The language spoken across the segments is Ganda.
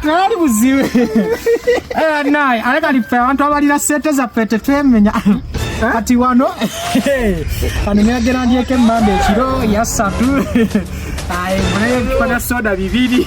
tewali buzibu naye ale kali ffe abantu abalina sente zaffe tetwemenya kati wano kano nagera ndyeko emmamba ekiro yasatu naye tukola soda bibiri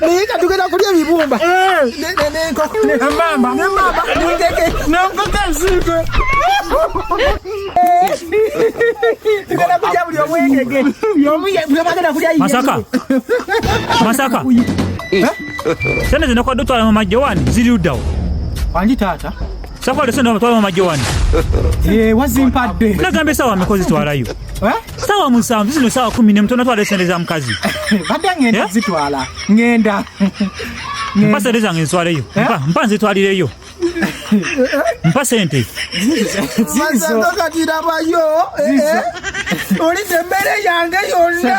naye nga tugenda kulya ebibumba masaka masaka sente zino kwadde otwala mu majjo wani ziri luddawo wangi taata sakwade sente otwala mu majjo wani wazimpadde nagamba esawa mikozi twalayo sawa musanvu zino sawa kumi nemu tonatwala esente za mukazi badde ngenda eh? zitwala ngenda mpa sente zange nzitwaleyo eh? mpa nzitwalireyo mpa sente katirabayo eh, olidde emmere yange yonna